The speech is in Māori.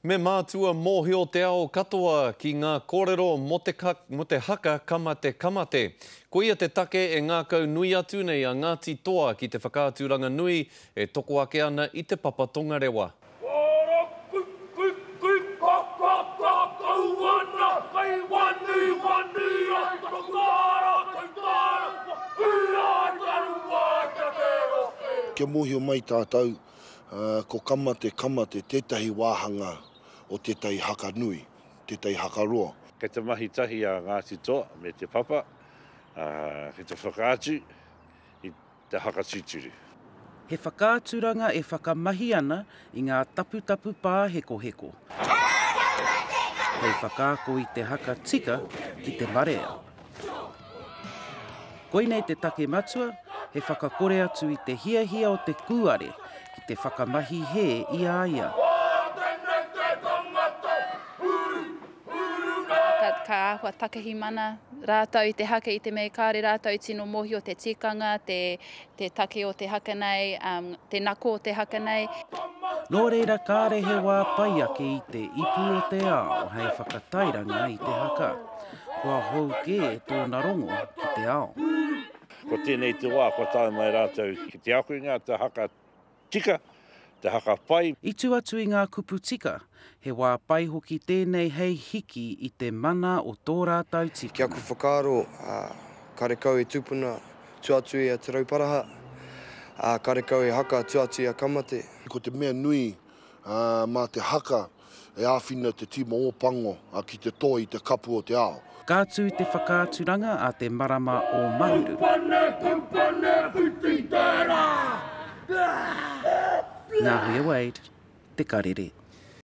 Me mātua mōhio te ao katoa ki ngā kōrero mō te mō te haka kamate kamate. Koia te take e ngākau nui atu nei a Ngāti Toa ki te whakaaturanga nui e toko ake ana i te papa tongarewa. Wara ku ku ku ka ka ka kau ana Kei wani wani ai taku māra Kei tāra whakakū ai taru wai Kia kēro kē. Kia mōhio mai tātou Ko Kama te Kama te tētahi wāhanga o tētahi haka nui, tētahi haka roa. Kei te mahi tahi a Ngāti Toa me Te Papa ki te whakaatu i te haka titiri. He whakaaturanga e whakamahi ana i ngā taputapu pāhekoheko hei whakaako i te haka tika ki te marea. Koinei te take matua, he whakakore atu i te hiahia o te kūare ki te whakamahi hē i a ia. Ka āhua takahimana rātou i te haka i te mea kāore rātou tino mōhio te tikanga, te Te take o te haka nei, um, te nako o te haka nei. Nō reira kāre he wā pai ake i te ipu o te ao hei whakatairanga i te haka. Kua hou kē tōna rongo ki te ao. Ko tēnei te wā kua tae mai rātou ki te ako i ngā haka tika, te haka pai. I tū atu i ngā kupu tika, he wā pai hoki tēnei hei hiki i te mana o tō rātou tīpuna. Ki aku whakaaro, karekau e tupuna tua atu i a Te Rauparaha, ā, karekau e haka tua atu i a Ka mate. Ko te mea nui, mā te haka. E āwhina te tīma Ōpango ki te toe i te kapu o te ao. Ka tū te whakaaturanga a te marama o Mahuru. Tupane, tupane, whiti tērā! Nā Huia Wade, Te Karere.